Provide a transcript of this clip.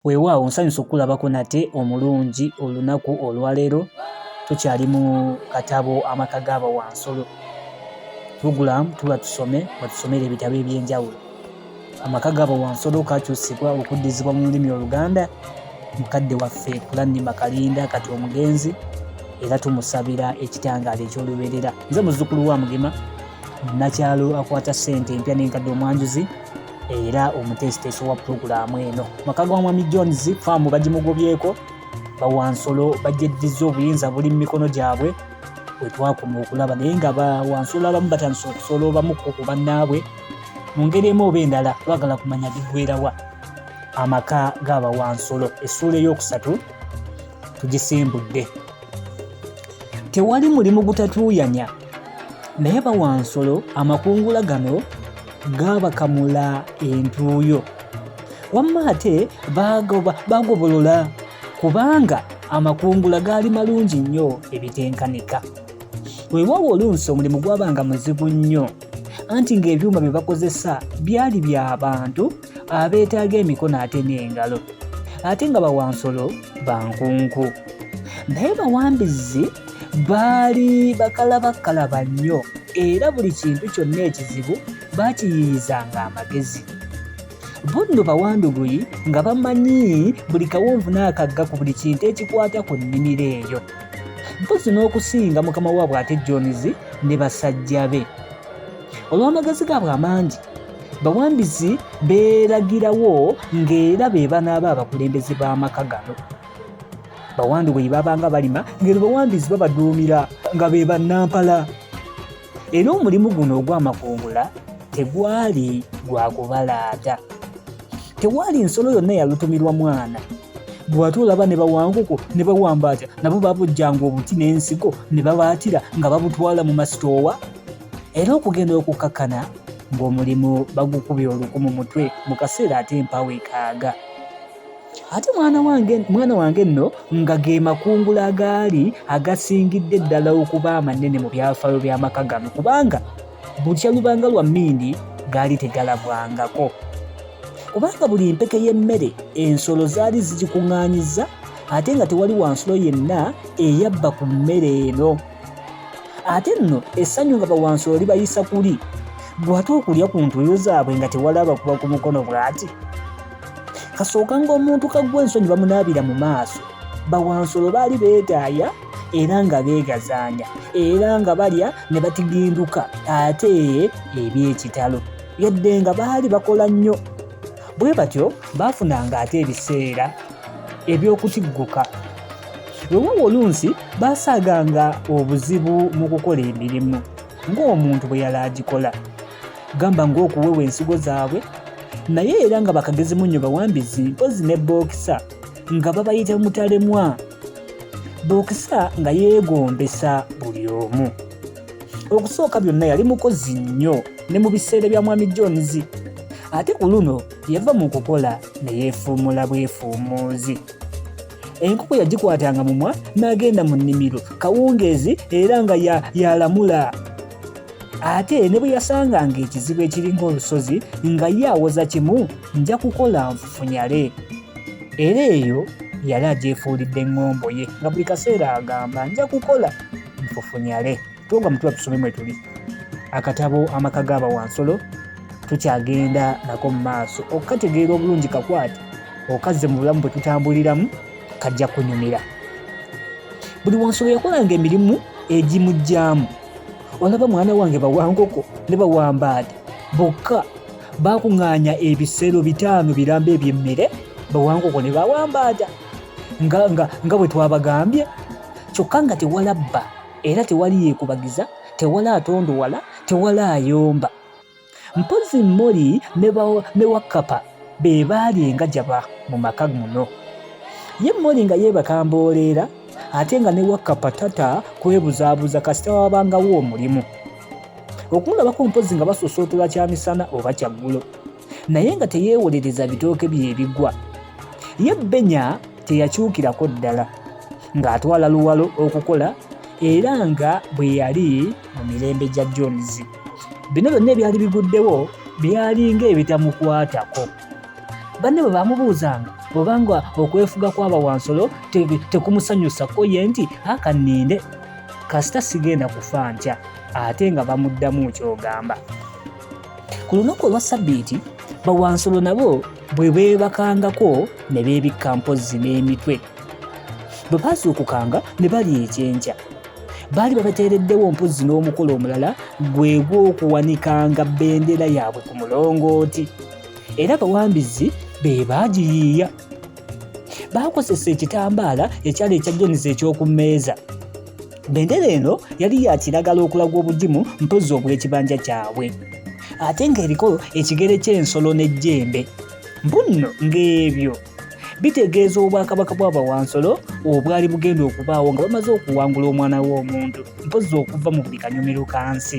Weewaawo nsanyuse okukulabako nate omulungi olunaku olwaleero tukyali mu katabo amaka gaaba wansolo program tuba tusome batusomera ebitabo ebyenjawulo amaka gaaba wansolo kakyusibwa okuddizibwa mu lulimi oluganda mukadde waffe kulannima kalinda kati omugenzi era tumusabira ekitangaala ekyolubeerera nze muzzukulu wa mugema nakyalo akwata ssente empya n'enkadde omwanjuzi era omuteesiteesi wa pulogulaamu eno maka gwa mwami jones faamu bagimugobyeko bawansolo bagyeddiza obuyinza buli mu mikono gyabwe bwe twakoma okulaba naye nga bawansolo abamu batandise okusoola obamuko ku bannaabwe mu ngeri emu oba endala twagala kumanya bigwerawa amaka g'abawansolo essuula ey'okusatu tugisimbudde tewali mulimu gutatuuyanya naye bawansolo amakungula gano gaabakamula entuuyo wamma ate bagobolola kubanga amakungula gaali malungi nnyo ebitenkanika weewaawo oluusi omulimu gwabanga muzibu nnyo anti ng'ebyuma bye bakozesa byali bya bantu abeetaaga emikono ate n'engalo ate nga bawansolo bankunku naye bawambizi baali bakalabakkalaba nnyo era buli kintu kyonna ekizibu baakiyiiyizanga amagezi bo nno bawanduguyi nga bamanyi buli kawonvu n'akagga ku buli kintu ekikwata ku nnimiro eyo mpozi n'okusinga mukama waabwe ate jonizi ne basajja be olw'amagezi gaabwe amangi bawambizi beeragirawo ng'era be banaaba abakulembeze b'amaka gano bawandi bwe babanga balima ngeri bawambizi babaduumira nga be bannampala era omulimu guno ogw'amakungula tegwali gwa kubalaata tewaali nsolo yonna yalutumirwa mwana bw'ate olaba ne bawanguko ne bawamba atya nabo babujjanga obuti n'ensigo ne babaatira nga babutwala mu masitoowa era okugenda okukakkana ng'omulimu bagukubye oluku mu mutwe mu kaseera ate empawo ekaaga ate mwana wange mwana wange nno nga ge makungula agaali agasingidde ddala okuba amanene mu byafaayo by'amaka gano kubanga bukya lubanga lwa mmindi gaali tegalabwangako kubanga buli mpeke y'emmere ensolo zaali zigikuŋŋaanyiza ate nga tewali wansulo yenna eyabba ku mmere eno ate nno essanyu nga bawansulo libayisa kuli bw'ate okulya ku ntuuyo zaabwe nga tewalaba kuba ku mukono bw'ati kasooka ng'omuntu kagwa ensonyi bamunaabira mu maaso bawansolo baali beegaaya era nga beegazaanya era nga balya ne batiginduka ate eby'ekitalo yadde nga baali bakola nnyo bwe batyo baafunanga ate ebiseera eby'okutigguka wewawo oluusi baasaaganga obuzibu mu kukola emirimu ng'omuntu bwe yali agikola gamba ng'okuwewa ensigo zaabwe naye era nga bakagezi munnyo bawambizi mpozi ne bookisa nga babayita mutalemwa bookisa nga yeegombesa buli omu okusooka byonna yali mukozi nnyo ne mu biseera bya mwami jones ate ku luno yava mu kukola ne yeefuumula bwefuumuuzi enkoko yagikwatanga mumwa n'agenda mu nnimiro kawungeezi era nga yalamula ya ate ne bwe yasanganga ekizibu ekiri ng'olusozi nga ye awoza kimu nja kukola nfufunyale era eyo yali agyefuulidde eŋŋombo ye nga buli kaseera agamba nja kukola nfufunyale Tonga mutula tusome mwetuli akatabo amaka gaba wansolo tukyagenda nako mu maaso okukategeera obulungi kakwate okazze mu bulamu bwe tutambuliramu kajja kunyumira buli wansolo yakolanga emirimu egimugyamu olaba mwana wange bawankoko ne bawambaade bokka bakuŋŋaanya ebisero bitaano biramba ebyemmere bawankoko ne bawambaada nga bwe twabagambye kyokka nga tewalabba era tewali yeekubagiza tewali atondowala tewali ayomba mpozi moli ne wakapa be baali engajaba mu maka muno ye moli nga yeebakambooleera ate nga ne wakapa tata kwebuzaabuza kasita wabangawo omulimu okumulabako mpozi nga basosootola kyamisana oba kyaggulo naye nga teyeewolereza bitooke bye ebigwa. Ye Benya teyakyukirako ddala ng'atwala luwalo okukola era nga bwe yali mu mirembe gya Jones. Bino byonna ebyali biguddewo byali ng'ebitamukwatako. Banne bwe baamubuuzanga obanga okwefuga kwaba wansolo tekumusanyusa ko ye nti akanninde kasita sigenda kufa ntya ate nga bamuddamu ky'ogamba. Ku lunaku olwa Ssabbiiti, bawansolo nabo bwe beebakangako ne beebikka mpozzi n'emitwe. Bwe baazuukukanga ne balya ekyenkya. Baali babateereddewo mpozzi n'omukolo omulala gwe gw'okuwanikanga bendera yaabwe ku mulongooti. Era bawambizi be baagiyiiya. baakozesa ekitambaala ekyali ekya jonisi eky'oku mmeeza bendera eno yali ya kiragala okulaga obugimu mpozzi obw'ekibanja kyabwe ate ng'eriko ekigere ky'ensolo n'ejjembe mbunno ng'ebyo bitegeeza obwakabaka bw'abawansolo obwali bugenda okubaawo nga bamaze okuwangula omwana w'omuntu mpozzi okuva mu buli kanyumiro ka nsi